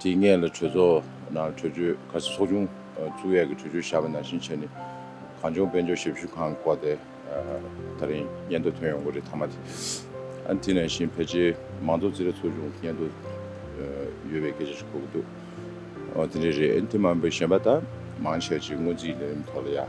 དེའི་སྔས་ལ་གྲོས་ཚོགས་ནང་གྲོས་ཆོད་ཁ་གསལ་ཚོགས་ཆུང་བཙུགས་ཡས་ཀྱི་གྲོས་ཆོད་བཞག་པ་ནང་བཞིན་བྱས་ནས་གངས་ལྗོངས་དཔལ་འབྱོར་ཞབས་ཞུ་ཁང་གི་བཀའ་དེ་ད་རིང་སྙན་ཐོ་ཐོན་ཡོང་གི་རེད་མཐའ་མ་དེ་དེ་ནང་བཞིན་ཕལ་ཆེར་མང་ཚོགས་རྩིས་ར་ཚོགས་ཆུང་སྙན་ཐོ་ཡོད་པའི་སྐད་ཆ་ཞིག་གོ་གི་འདུག་དེ་འདྲ་རེད་དེ་མ་འོན་པའི་གཞན་པ་ད་མང་ཆེ་བ་ཅིག་སྔོན་རྩིས་ལས་རིམ་ཐོག་ལ་ཡ།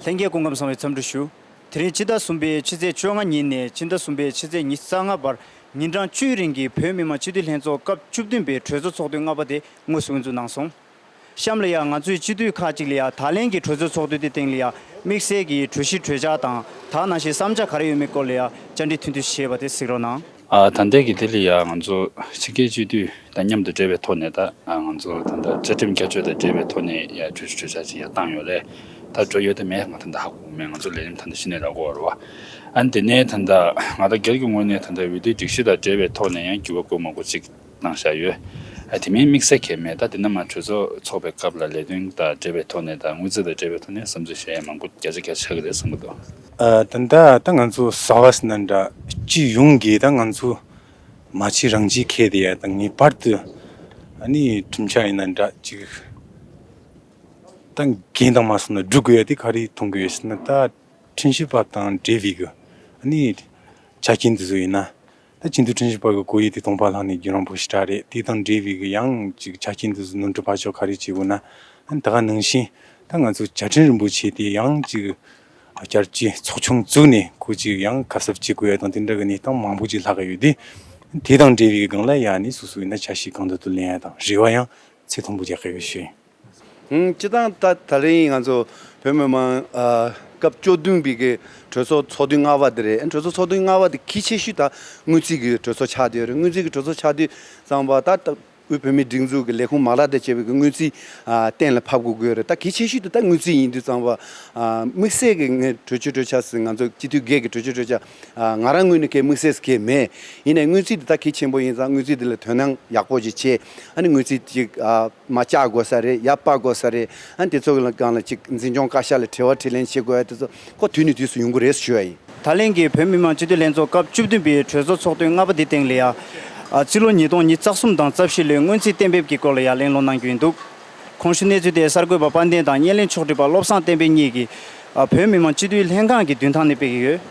ལྷན་རྒྱས་སྐུ་འཁམས་གསང་བའི་འཚམས་འདྲི་ཞུ། དེ་རིང་སྤྱི་ཟླ་གསུམ་པའི་ཕྱི་ཚེས་བཅོ་ལྔ་ཉིན་ནས་སྤྱི་ཟླ་གསུམ་པའི་ཕྱི་ཚེས་ཉི་ས་ལྔ་བར་ཉིན་གྲངས་བཅུའི་རིང་གི་བོད་མི་མང་སྤྱི་འཐུས་ལྷན་ཚོགས་སྐབས་བཅུ་བདུན་པའི་གྲོས་ཚོགས་ཚོགས་དུས་ལྔ་པ་དེ་དངོས་སུ་དབུ་འཛུགས་གནང་སོང། གཤམ་ལ་ཡང་ང་ཚོའི་སྤྱི་འཐུས་ཁག་ཅིག་ལ་ཡང་ད་ལན་གྱི་གྲོས་ཚོགས་ཚོགས་དུས་དེ་སྟེང་ལ་ཡང་དམིགས་བསལ་གྱི་གྲོས་གཞི་གྲོས་འཆར་དང་དག་སྣང་ཞིག་བསམ་འཆར་ག་རེ་ཡོད་མེད་སྐོར་ལ་ཡང་བཅར་འདྲི་ཐུང་ཐུང་བྱས་པ་དེ་གཟིགས་རོགས་གནང། ད་ལྟའི་གི་དེ་ལ་ཡང་ང་ཚོ་ཕྱི་རྒྱལ་སྤྱི་འཐུས་དང་མཉམ་དུ་འབྲེལ་བའི་ཐོག་ནས་ད་ང་ཚོ་ད་ལྟ་བཅའ་ཁྲིམས་བསྐྱར་བཅོས་དང་འབྲེལ་བའི་ཐོག་ནས་ཡང་གྲོས་གཞི་གྲོས་འཆར་ཅིག་ཡང་བཏང་ཡོད་ལས་ད་འགྲོ་ཡོད་དེ་མེད་ང་ད་ལྟ་ཧ་གོ་གི་མེད་ང་ཚོ་ལས་རིམ་ད་ལྟ་གཞི་ནས་རག་གོ་བར་བ་ཨ་ནི་དེ་ནས་ད་ང་ད་སྒེར་གྱི་ངོས་ནས་ད་འོས་བསྡུའི་སྒྲིག་གཞི་དང་འབྲེལ་བའི་ཐོག་ནས་ཡང་འགྱུར་བ་དགོས་མ་དགོས་ཅིག། གནང་བཞག་ཡོད། དེ་མིན་དམིགས་བསལ་གྱི་མེད་ད་དེ་རྣམས་གྲོས་ཚོགས་ཚོགས་པའི་སྐབས་ལ་ལས་དོན་དང་འབྲེལ་བའི་ཐོག་ནས་དང་དངུལ་རྩ་དང་འབྲེལ་བའི་ཐོག་ནས་བསམ་ཚུལ་གཞན་ཡང་མང་པོ་བརྒྱ་ཆ་བརྒྱ་ཆགས་ཀྱི་རེད་བསམ་གྱི་འདུག། ད་ལྟ་ད་ང་ཚོ SAVAS ནང་འདྲ་སྤྱི་ཡོངས་ཀྱི་ད་ང་ཚོ་མ་ཕྱི་རང་སྤྱི་ཁེ་དེ་ཡ་ད་ངེས་པར་དུ་ནི་ཁྲིམས་ཆགས་ཡིན་ན་འདྲ་ཅིག་ད་འགན་དང་མ་སོང་ན་སྒྲུབ་དགོས་ཡ་དེ་ག་རེ་མཐོང་གི་ཡོད་ཟེར་ན་ད་ཁྲིམས་ཞིབ་པ་དང་འབྲེལ་བའི་གི་ནི་ཆ་རྐྱེན་དེ་ཚོ་ཡིན་ན་ད་ཁྱིམ་དུ་དྲིན་ཞིག་བར་གི་སྒོ་ཡིག་དེ་སྟོང་པ་ལྷག་ནས་རྒྱུ་རང་བོ་ཞིག་གྲགས་རེད་དེ་དང་འབྲེལ་བའི་གི་ཡང་ཅིག་བྱ་ཁྱིམ་དུ་ཟུ་ནུ་འདྲི་བར་ཆོ་ག་རེ་བྱེད་དགོས་ན་ད་ག་ནང་བཞིན་ད་ང་ཚོ་བྱ་ཁྲིན་རིན་པོ་ཆེ་དེ་ཡང་ཅིག་བསྐྱར་སྐྱི་ཚོགས་ཆུང་བཙུགས་ནས་ཁུ་ཅིག་ཡང་གབ་གསབ་བྱེད་དགོས་ཡ་དང་དེ་འདྲ་གི་གནས་སྟངས་མང་བོ་ཅིག་ལྷག་གི་ཡོད་དེ། དེ་དང་འབྲེལ་བའི་གི་གང་ལ་ཡ་ནས་སུ་སུ་ཡིན་ན་བྱ་ཞིག་གང་དུ་དུ་ལེན་ཡ་དང་རེ་བ་ཡང་ཚད་མཐོན་པོ་རྒྱག་གི་ཡོད་ཤིང། སྤྱི་བཏང་ད་ད་རིང་ང་ཚོ་བོད་མི་མང་སྐབས་བཅུ་བདུན་པའི་གི་གྲོས་ཚོགས་ཚོགས་དུས་ལྔ་བ་དེ་རེད་གྲོས་ཚོགས་ཚོགས་དུས་ལྔ་བ་དེ་གི་ཆེ་ཤོས་ད་དངུལ་རྩིས་གི་གྲོས་ཚོགས་ཆགས་དུས་རེད་དངུལ་རྩིས་གི་གྲོས་ཚོགས་ཆགས་དུས་ཙང་པ་ད་ལྟ་དབུས་བོད་མིའི་སྒྲིག་འཛུགས་གི་ལས་ཁུངས་མ་ལག་དང་བཅས་པའི་གི་དངུལ་རྩིས་གཏན་ལ་ཕབ་དགོས་དགོས་རེད་ད་གི་ཆེ་ཤོས་དེ་ད་དངུལ་རྩིས་ཡིན་དུས་ཙང་པ་དམིགས་བསལ་གི་ངས་གྲོས་ཆོད་གྲོས་འཆར་སི་ང་ཚོ་སྤྱི་འཐུས་སྒེར་གི་གྲོས་ཆོད་གྲོས་འཆར་ང་རང་ངོས་ནས་གལ་དམིགས་བསལ་སི་གལ་མེད་ཡིན་ནས་དངུལ་རྩིས་དེ་ད་གི་ཆེན་པོ་ཡིན་ཙང་དངུལ་རྩིས་དེ་ལ་དོན་སྣང་ཡག་པོ་ཞིག་བྱེད་ཨ་ནི་དངུལ་རྩིས་ཅིག་མ་བཅའ་དགོས་ས་རེད་ཡ་སྤར་དགོས་ས་རེད་ཨ་དེ་ཚོ་གང་ལ་ཅིག་འཛིན་སྐྱོང་བཀའ་ཤག་ལ་དྲི་བ་དྲིས་ལན་བྱེད་དགོས་ཨ་དེ་ཚོ་ཁོ་དུས་ནས་དུས་སུ་ཡོང་གི་རེད་ཟེར་ཞུ་ཡ་ཡིན། ད་ལན་གྱི་བོད་མི་མང་སྤྱི་འཐུས་ལྷན་ཚོགས་སྐབས་བཅུ་བདུན་པའི་གྲོས་ཚོགས་ཚོགས་དུས་ལྔ་པ་དེ་སྟེང་ལ་ཡ། སྤྱི་ལོ་ཉིས་སྟོང་ཉིས་རྩ་གསུམ་དང་རྩ་བཞི་ལོའི་སྔོན་རྩིས་གཏན་འབེབས་ཀྱི་སྐོར་ལ་ཡ་གླེང་སློང་གནང་རྒྱུ་ཡིན་འདུག་གོང་ཞུས་གནས་ཚུལ་དེ་གསར་འགོད་པ་དཔལ་ལྡན་དང་བརྙན་ལེན་ཕྱོགས་བསྒྲིགས་པ་བློ་བཟང་བསྟན་འཕེལ་གཉིས་ཀྱིས་བོད་མི་མང་སྤྱི་འཐུས་ལྷན་ཁང་གི་མདུན་ཐང་ནས་སྤེལ་གྱི་ཡོད།